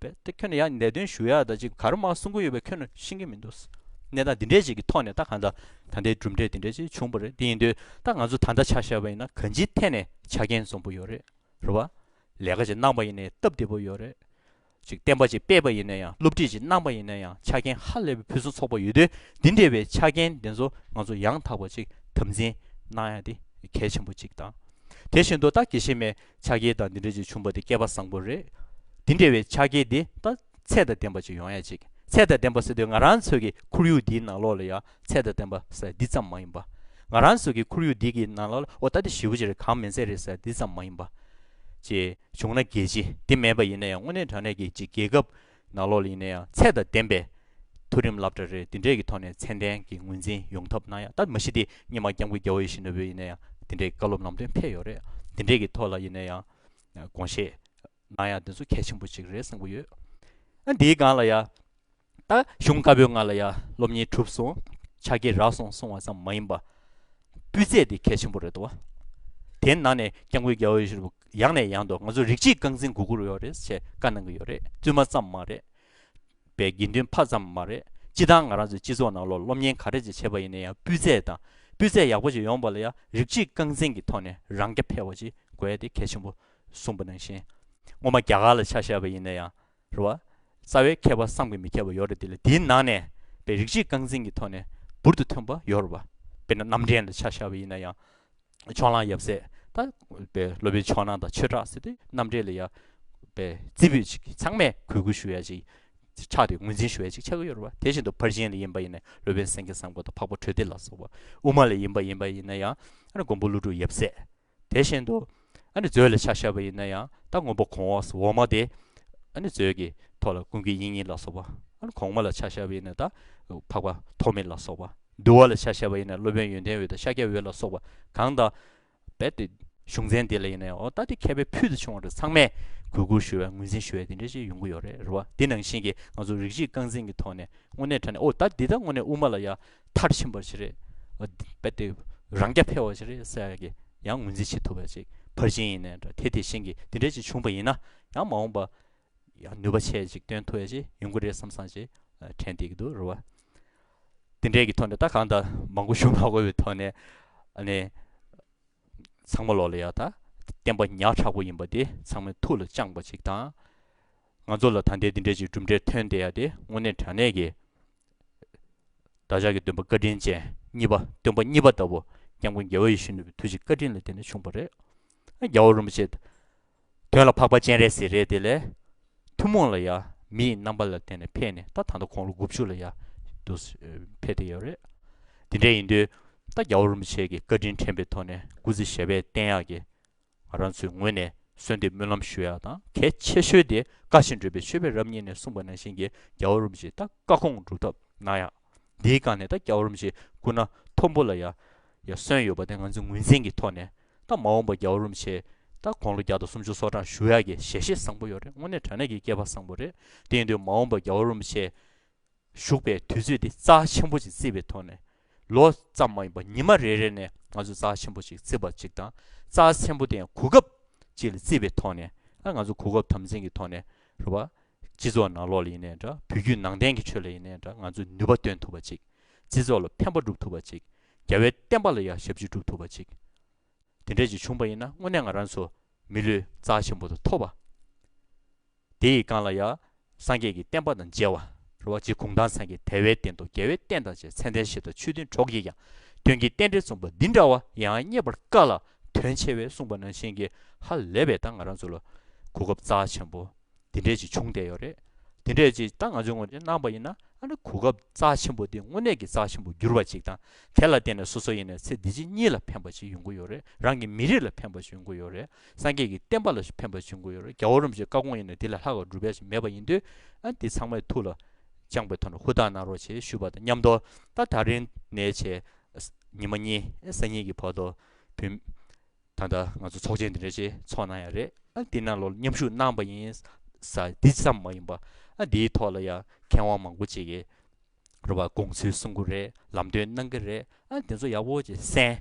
པས་ད་ཁྱོད་ནས་ཡང་ནད་དོན་ཞུ་ཡག་ད་ཅིག་གར་མ་གསུང་གི་ཡོད་པས་ཁྱོད་ནས་ཤེས་ཀྱི་མི་འདུག་གནས་སྟངས་འདི་འདྲས་ཅིག་གི་ཐོག་ནས་ད་གང་ལྟར་ད་ལྟའི་གྲུབ་འབྲས་འདི་འདྲས་ཅིག་བྱུང་བ་རེད་དེ་ཡིན་དུས་ད་ང་ཚོ་ད་ལྟ་ཆ་ཤས་པ་ཡིན་ན་གང་ཅིའི་ཐད་ནས་ཆ་རྐྱེན་བཟང་པོ་ཡོད་རེད་རེད་བ། ལས་ཀ་ཅིག་གནང་པ་ཡིན་ནས་སྟབས་བདེ་པོ་ཡོད་རེད། ཅིག་བསྟན་པ་ཅིག་སྤེལ་པ་ཡིན་ནས་ཡང་སློབ་ཁྲིད་ཅིག་གནང་པ་ཡིན་ནས་ཡང་ཆ་རྐྱེན་ཧ་ལས་པའི་ཕུན་སུམ་ཚོགས་པ་ཡོད་དུས་འདི་འདྲས་པའི་ཆ་རྐྱེན་འདི་ཚོ་ང་ཚོ་ཡང་དག་པ་ཅིག་དམ་འཛིན་གནང་ཡག་འདི་གལ་ཆེན་པོ་ཅིག་དང། དེ་བཞིན་དུ་ད་དགེ་བཤེས་མའི་ཕྱག་རྒྱའི་དང་འདི་འདྲ་ཅིག་བྱུང་བ་དེ་བསྐལ་པ་བཟང་པོ་རེད། འདི་འདྲ་བའི་ཕྱག་རྒྱའི་འདི་ལྟ་ཚད་དང་ལྡན་པ་ཅིག་ཡོང་ཡ་ཅིག་ཚད་དང་ལྡན་པ་ཟེར་དུས་ང་རང་ཚོ་གི་ཁོར་ཡུག་འདིའི་ནང་ལོགས་ལ་ཡང་ཚད་དང་ལྡན་པ་ཟེར་འདི་ཙམ་མ་ཡིན་པ། ང་རང་ཚོ་གི་ཁོར་ཡུག་འདི་གི་ནང་ལོགས་ལ་ཨོ་ད་དེ་ཞི་བུ་ཅི་རེད་གང་མེད་ཚད་རེད་ཟེར་འདི་ཙམ་མ་ཡིན་པ། ཅེས་བྱུང་ན་རྒྱལ་སྤྱི་འདི་མེད་པ་ཡིན་ན་ཡང་དངོས་གནས་དྲང་གནས་ཀྱི་ཅིག་རྒྱལ་ཁབ་ནག་ལོག་གླིང་ནས་ཡང་ཚད་དང་ལྡན་པའི་མཐོ་རིམ་བསླབ་གྲྭ་རེ་འདི་འདྲས་ཀྱི་ཐོག་ནས་ཚད་ལྡན་གྱི་ངོས་འཛིན་ཡོང་ཐབས་གནང་ཡ་ད་མི་ཤི་སྟེ་སྙེ་མ་སྐྱབས་མགོན་རྒྱ་བོ་ཡེ་ཤེས་ནོར་བུའི་ཡིན་ན་ཡང་འདི་འདྲའི་བཀའ་སློབ་ནང་དོན་ཕེབས་ཡོད་རེད་འདི་འདྲས་ཀྱི་ཐོག་ལ་ཡིན་ན་ཡང་དགོངས་བཞེས་གནང་ཡ་འདི་ཚོ་གལ་ཆེན་པོ་ཅིག་རེད་བསམ་གྱི་ཡོད་ཨ་འདིའི་སྒང་ལ་ཡ་ད་གཞུང་བཀའ་པོད་ལྔ་ལ་ཡ་སློབ་གཉེར་གྲུབ་སོང་ཕྱག་རྒྱས་རག་སོང་གསུང་བ་ཙམ་མ་ཡིན་པ་སྤུས་ཚད་དེ་གལ་ཆེན་པོ་རེད་དོ་དེ་ནང་ནས་སྐྱབས་མགོན་རྒྱ་བོ་ཡེ་ཤེས་ནོར་བུ་ཡང་ནས་ཡང་དུ་ང་ཚོ་རིགས་གཅིག་རྐང་འཛིན་གུ་གུར་ཡོད་རེད་ཅེས་བཀའ་གནང་གི་ཡོད་རེད་བཙུན་མ་ཙམ་མ་རེད། པའི་དགེ་འདུན་ཕ་ཙམ་མ་རེད་སྤྱི་དང་ང་རང་ཚོའི་སྤྱི་ཚོགས་ནང་ལོ་སློབ་གཉེན་ག་རེ་ཅིག་བྱེད་པ་ཡིན་ན་ཡང་སྤུས་ཚད་དང་སྤུས་ཚད་ཡག་པོ་ཅིག་ཡོང་བ་ལ་ཡང་རིགས་གཅིག་རྐང་འཛིན་གྱི་ཐོག་ནས་རང་རྐྱ་འཕེར་བ་ཅིག་དགོས་ཏེ་གལ་ཆེན་པོ་གསུངས་པ་ནང་བཞིན། ངོ་མ་རྒྱ་གར་ལ་ཆ་བཞག་པ་ཡིན་ན་ཡང། རེད། རྩ་བའི་མཁས་པ་བསམ་གྱི་མི་ཁྱབ་པ་ཡོད་རེད་དེ་ལས་དེའི་ནང་ནས་པའི་རིགས་གཅིག་རྐང་འཛིན་གྱི་ཐོག་ནས་འབུར་དུ་ཐོན་པ་ཡོད་རེད་པ། དཔེར་ན་རྣམ་འདྲེན་ལ་ཆ་བཞག་པ་ཡིན་ན་ཡང། ཕྱོགས་གླང་ཡབ་སྲས་ད། པའི་སློབ་དཔོན་ཕྱོགས་ནང་དང་ཆོས་གྲགས་སྲས་དེ་རྣམ་འདྲེན་ལ་ཡ། པའི་རྩིས་འབུལ་ཅིག་ཚང་མས་གུས་བཀུར་ཞུ་ཡ་ཅིག། ཕྱག་དེ་ངོས་འཛིན་ཞུ་ཡ་ཅིག་ཆགས་ཀྱི་ཡོད་རེད་པ་དེ་བཞིན་དུ་ཕར་ཕྱིན་ལ་ཡིན་པ་ཡིན་ན་སློབ་དཔོན་སེང་གེ་བསམ་གོ་དང་འཕགས་པ་གྲོལ་སྡེ་ལ་སོགས་པ། དབུ་མ་ལ་ཡིན་པ་ཡིན་པ་ཡིན་ན་ཡང། མགོན་པོ་ཀླུ་སྒྲུབ་ཡབ་སྲས། དེ་བཞིན་དུ། ཨ་ནི་མཛོད་ལས་ཕྱག་བཞག་པ་ཡིན་ན་ཡང་རྟགས་སྔོན་པོ་གོང་འོག་སོགས་འོག་མ་སྟེ། ཨ་ནི་མཛོད་ཀྱི་ཐོག་ལ་ཀུན་གྱི་དབྱིངས་ཉིད་ལ་སོགས་པ། ཨ་ནི་གོང་མ་ལ་ཕྱག་བཞག་པ་ཡིན་ན་རྟགས། འཕགས་པ་ཐོགས་མེད་ལ་སོགས་པ། འདུལ་བ་ལ་ཕྱག་བཞག་པ་ཡིན་ན་སློབ་དཔོན་ཡོན་ཏན་འོད་དང་ཤཱཀྱ་འོད་ལ་སོགས་པ་གང་དག། རྦད་དེ། གཞུང་ཚན་འདི་ལ་ཡིན་ན་ཡང་འོ་ད་ལྟའི་མཁས་པའི་ཕུལ་དུ་བྱུང་བ་རེ་ཚང་མས་གུས་བཀུར་ཞུ་བའི་ངོས་འཛིན་ཞུ་བའི་དེ་འདྲའི་ཆེས་ཡོང་གི་ཡོད་རེད་རེད་བ་འདི་ནང་བཞིན་གྱི་ང་ཚོ་རིགས་གཅིག་རྐང་འཛིན་གྱི་ཐོག་ནས་དངོས་གནས་དྲན་ནས་འོ་ད་འདི་ལྟར་དངོས་གནས་དབུ་མ་ལ་ཡ། མཐར་ཕྱིན་པར་བྱེད། རེད་པས་དེ་རང་རྐྱ་འཕེལ་བར་བྱེད། རེད་བསལ་ཡང་གི་ཡང་ངོས་འཛིན་བྱེད་ཐུབ་པ་ཅིག་ཕར་ཕྱིན་ཡིན་ནའི་འདྲ་དེ་དེ་བཞིན་གྱི་དེ་འདྲའི་ཅིག་བྱུང་བ་ཡིན་ན་ཡང་མ་འོངས་པ་ཡང་ནུས་པ་ཆེ་ཅིག་སྟོན་ཐུབ་བ་ཅིག་ཡོང་གི་རེད་བསམ་བསམ་ཅིག་དྲན་དེ་གི་འདུག་རེད་བ། དེ་འདྲའི་གི་ཐོག་ནས་ད་གང་ལྟར་མང་པོ་བྱུང་མ་དགོས་པའི་ཐོག་ནས་ཨ་ནི། ཚང་མ་ལོག་ལ་ཡག་ད། བསྟན་པ་ཉག་ཕྲག་པོ་ཡིན་པ་དེ་ཚང་མའི་ཐུགས་ལ་བཅངས་པ་ཅིག་དང། ང་ཚོ་ལ་ད་ལྟའི་འདི་འདྲའི་ཅིག་གྲུབ་འབྲས་ཐོན་བསྡད་ཡ་དེ་དངོས་གནས་དྲང་གནས་ཀྱི། བདག་ཅག་གི་སྟོན་པ་བཀའ་དྲིན་ཅན་གཉིས་པ་སྟོན་པ་གཉིས་པ་ལྟ་བུ་སྐྱབས་མགོན་རྒྱལ་བ་ཡེ་ཤུ་ནུས་པའི་དུས་ཀྱི་བཀའ་དྲིན་ལ་བརྟེན་ནས་བྱུང་བ་རེད། རྒྱལ་བ་རིན་པོ་ཆེ། དོན་ལ་འཕགས་པ་སྤྱན་རས་གཟིགས་རེད་དེ་ལས། ཐུན་མོང་ལ་ཡང་མི་ཡི་རྣམ་པ་ལ་བརྟེན་ནས་ཕེབས་ནས་ད་ད་ལྟ་ཁོང་ལོ་དགུ་བཅུ་ལ་ཡང་འདུག་ཕེབས་ཏེ་ཡོད་རེད། དེ་འདྲ་ཡིན་དུས་ད་རྒྱ་བོ་རིན་པོ་ཆེ་གི་བཀའ་དྲིན་དྲན་པའི་ཐོག་ནས་སྐུ་ཚེ་ཞབས་པད་བརྟན་ཡག་གི། ང་རང་ཚོའི་ངོས་ནས་གསོལ་འདེབས་སྨོན་ལམ་ཞུ་ཡག་དང་གལ་ཆེ་ཤོས་དེ་བཀའ་བཞིན་བགྲོས་པའི་ཆོས་པས་རབ་གཉིས་ནས་གསུངས་པ་ནང་བཞིན་གྱི་རྒྱ་བོ་རིན་པོ་ཆེ་ད་བཀའ་ཁོངས་སྒྲུབ་ཐབས་གནང་ཡག། དེའི་སྒང་ནས་ད་སྐྱ་བོར་མི་ཞིག་བསྐུར་ན་མཐོན་པོ་ལ་ཡང་ཡང་སོན་ཡོད་པ་དེ་ང་ཚོས་ངོས་འཛིན་གྱི་ཐོག་ནས་ད་མ་འོངས་པ་སྐྱ་བོར་མི་ཆེ་ད་དགོང་ལོ་བརྒྱ་དང་སུམ་ཅུ་སོ་གྲངས་བཞུགས་ཡག་གི་ཞལ་བཞེས་བཟང་པོ་ཡོད་རེད་དངོས་གནས་དྲ་གནས་ཀྱི་སྐྱེས་པ་བཟང་པོ་རེད་དེ་ཡིན་དུས་མ་འོངས་པ་སྐྱ་བོར་མི་ཆེ་བཞུགས་པའི་དུས་ཚོད་འདི་རྩ་ཆེན་པོ་ཅིག་བརྩི་བའི་ཐོག་ནས་ལོ་ཙམ་མ་ཡིན་པ་ཉི་མ་རེ་རེ་ནས་ང་ཚོས་རྩ་ཆེན་པོ་ཅིག་བརྩི་བ་ཅིག་དང་རྩ་ཆེན་པོ་དེ་ཡང་གོ་སྐབས་ཅིག་ལ་བརྩི་བའི་ཐོག་ནས་ང་ཚོ་གོ་སྐབས་དམ་འཛིན་གྱི་ཐོག་ནས་རེད་བ། སྤྱི་ཚོགས་ནང་ལོག་ལ་ཡིན་ནའི་འདྲ་བོད་བརྒྱུད་ནང་བསྟན་གྱི་ཆོས་ལ་ཡིན་ནའི་འདྲ་ང་ཚོས་ནུས་པ་འདོན་ཐུབ་པ་ཅིག་སྤྱི་ཚོགས་ལ་ཕན་པ་སྒྲུབ་ཐུབ་པ་ཅིག་རྒྱ་བལ་བསྟན་པ་ལ་ཡང་ཞབས་ཕྱི་སྒྲུབ་ཐུབ་པ་ཅིག་དེ་འདྲས་ཅིག་བྱུང་བ་ཡིན་ན་དངོས་གནས་ང་རང་ཚོ་མི་ལུས་རྩ་ཆེན་པོ་དང་ཐོབ་བ། དེ་ཡི་སྒང་ལ་ཡང་སངས་རྒྱས་ཀྱི་བསྟན་པ་དང་མཇལ་བ། རེད་བ། རྗེ་གུང་ཐང་སངས་རྒྱས་དལ་བའི་སྟེང་དུ་རྒྱལ་བའི་བསྟན་དང་བཅས་མཚན་ལྡན་ཞེས་དང་ཆོས་མཐུན་གྲོགས་ཀྱིས་ཀྱང་དོན་གྱི་རྟེན་འབྲེལ་མཚུངས་པ་འདི་འདྲ་བ་ཡང་རྙེད་པར་དཀའ་ལ། དོན་ཆེ་བས་གསུངས་པ་ནང་བཞིན་གྱི་ཧ་ལས་པའི་ད་ང་རང་ཚོ་ལ་གོ་སྐབས་རྩ་ཆེན་པོ་འདི་འདྲས་ཅིག་བྱུང་བསྡད་ཡོད་རེད་དེ་འདྲས་ཅིག་ད་ང་ཚོའི་ངོས་ནས་གནང་པ་ཡིན་ན་ཨ་ནི་གོ་སྐབས་རྩ་ཆེན་པོ་འདི་དངོས་གནས་ཀྱི་རྩ་ཆེན་པོ་འགྱུར་བ་ཅིག་དང་དེ་ལ་བརྟེན་ནས་སོ་སོ་ཡིན་ནས་ཚེ་འདི་ཕྱི་གཉིས་ལ་ཕན་པ་ཞིག་ཡོང་གི་ཡོད་རེད་རང་གི་མི་རིགས་ལ་ཕན་པ་ཞིག་ཡོང་གི་ཡོད་རེད་སངས་རྒྱས་ཀྱི་བསྟན་པ་ལ་ཕན་པ་ཞིག་ཡོང་གི་ཡོད་རེད་རྒྱ་བོ་རུམ་བྱེད་བཀའ་དགོངས་ཡིན་ནས་དེ་ལས་ལྷག་པ་སྒྲུབ་ཡ་ཞིག་མེད་པ་ཡིན་དུས་ཨ་འདི་ཚང་མས་ཐུགས་ལ་བཅངས་པའི་ཐོག་ནས་ཧུར་ཐག་གནང་རོགས་ཞེས་ཞུ་བ་དང་མཉམ་དུ་ད་ད་རིང་ནས་བྱས་ཉི་མ་གཉིས་སེ་གཉིས་ཀྱི་བར་དུ་བུད། ད་ལྟ་ང་ཚོ་ཚོགས་ཆེན་འདི་འདྲ་ཞིག་འཚོགས་གནང་ཡ་རེད། འདི་རྣམས་ལ་མཉམ་ཞུགས་གནང་བ་ཡིན་ས་འདི་ཙམ་མ་ཡིན་པ། འདིའི་ཐོག་ལ་ཡང་མཁས་དབང་མང་པོ་ཅིག་གིས་རོ་པ་དགོངས་ཚུལ་གསུང་གི་རེད་ལམ་སྟོན་གནང་གི་རེད། དེ་ཚོ་ཡག་པོ་ཅིག་གསན།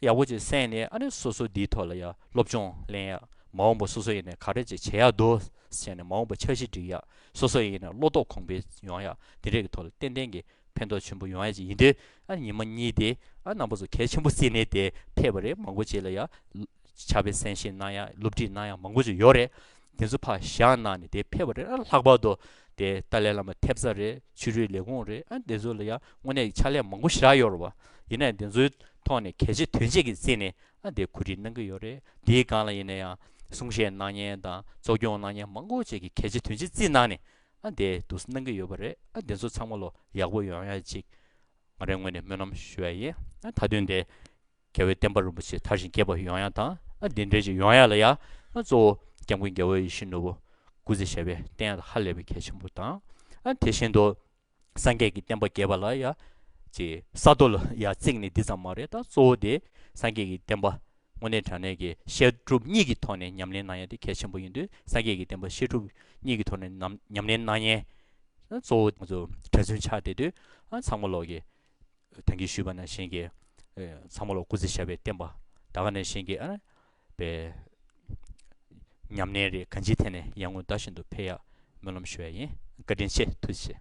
ཡག་པོ་ཅིག་གསན་ནས་ཨ་ནི་སོ་སོ་འདིའི་ཐོག་ལ་ཡང་སློབ་སྦྱོང་གླེང་ཡ། མ་འོངས་པ་སོ་སོ་ཡིན་ནས་ག་རེ་ཅིག་བྱེད་ཡག་འདུག་བྱས་ནས་མ་འོངས་པ་འཆར་གཞི་སྒྲིག་ཡ། སོ་སོ་ཡིན་ནས་བློ་དོགས་གོང་འཕེལ་ཡོང་ཡ། འདི་འདྲས་ཀྱི་ཐོག་ལ་ཏན་ཏན་གྱི། ཕན་ཐོགས་ཆེན་པོ་ཡོང་ཡ་ཅིག་ཡིན་དུས་ཨ་ཉི་མ་གཉིས་དེ་ཨ་ནང་པ་ཚོ་གལ་ཆེན་པོ་བསྲིས་ནས་དེ་ཕེབས་པ་རེད་མང་པོ་བྱས་ལ་ཡ། ཕྱག་དཔེ་གསན་བཞེས་གནང་ཡ་སློབ་ཁྲིད་གནང་ཡ་མང་པོ་བྱས་ཡོད་རེད། དེ་ཚོ་ཕ་ཞག་གནང་ནས་དེ་ཕེབས་པ་རེད་ཨ་ལྷག་པར་དུ། དེ་ཏཱ་ལའི་བླ་མ་ཐེབས་རྩ་རེད་ཕྱི་རོལ་ལས་ཁུངས་རེད་ཨ་དེ་ཚོ་ལ་ཡ་དངོས་གནས་ཕྱག་ལས་མང་པོ་བཞག་ཡོད་རེད་བ། ཡིན་ནའི་དེ་ཚོའི་ཐོག་ནས་གལ་ཆེ་དོན་ཆེ་གི་བརྩིས་ནས་ཨ་དེ་གོ་སྒྲིག་གནང་གི་ཡོད་རེད་དེའི་སྒང་ལ་ཡིན་ན་ཡང་གསུང་བཤད་གནང་མཉན་དང་གཙོ་སྐྱོང་གནང་མཉན་མང་པོ་བྱས་ཀི་གལ་ཆེ་དོན་ཆེ་བརྩིས་གནང་ནས་ཨ་འདས་འདུག་གནང་གི་ཡོད་པ་རེད་ཨ་འདས་ཚོ་ཚང་མ་ལོ་ཡག་པོ་ཡོང་ཡ་ཅིག་ང་རེ་ངོས་ནས་སྨོན་ལམ་ཞུ་ཡ་ཡིན་ཨ་ད་དུས་འདས་རྒྱ་བོད་བསྟན་པ་རིན་པོ་ཆེ་དར་ཞིང་རྒྱས་པ་ཡོང་ཡ་དང་ཨ་འདས་འདྲེ་ཅིག་ཡོང་ཡ་ལ་ཡ་ཨ་གཙོ་བོ་སྐྱབས་མགོན་རྒྱ་བོད་ཡིད་བཞིན་ནོར་བུ་སྐུ་ཚེ་ཞབས་པད་བརྟན་ཡ་ལ་ཧ་ལས་པའི་གལ་ཆེན་པོ་དང་ཨ་དེ་བཞིན་དུ་སངས་རྒྱས་ཀྱི་བསྟན་པ་རྒྱས་པ་ལ་ཡ་ཅིག་ས་རྡོ་ལ་ཡ་བརྩིགས་ནས་འདི་ཙམ་མ་རེད་ད་གཙོ་བོ་དེ་སངས་རྒྱས་ཀྱི་བསྟན་པ། དངོས་གནས་དྲང་གནས་ཀྱི་བཤད་སྒྲུབ་གཉིས་ཀྱི་ཐོག་ནས་ཉམས་ལེན་གནང་ཡན་དེ་གལ་ཆེན་པོ་ཡིན་དུས་སངས་རྒྱས་ཀྱི་བསྟན་པ་བཤད་སྒྲུབ་གཉིས་ཀྱི་ཐོག་ནས་ཉམས་ལེན་གནང་ཡན། གཙོ་བོ་ང་ཚོ་གྲྭ་བཙུན་ཆགས་བསྡད་དུས་ཚང་མ་ལོག་གི། དོན་གྱིས་ཞུས་པ་ན་གཞན་གྱི། ཚང་མ་ལོག་སྐུ་ཚེ་ཞབས་པའི་བསྟན་པ་ད་ག་ནས་གཞན་གྱི་ཨ་རེ། པའི། ཉམས་ལེན་རེ་ག་ཅིའི་ཐད་ནས་ཡར་ངོ་ཟླ་བཞིན་དུ་འཕེལ་ཡག་སྨོན་ལམ་ཞུ་བ་ཡིན་བཀའ་དྲིན་ཆེ་ཐུགས་རྗེ་ཆེ།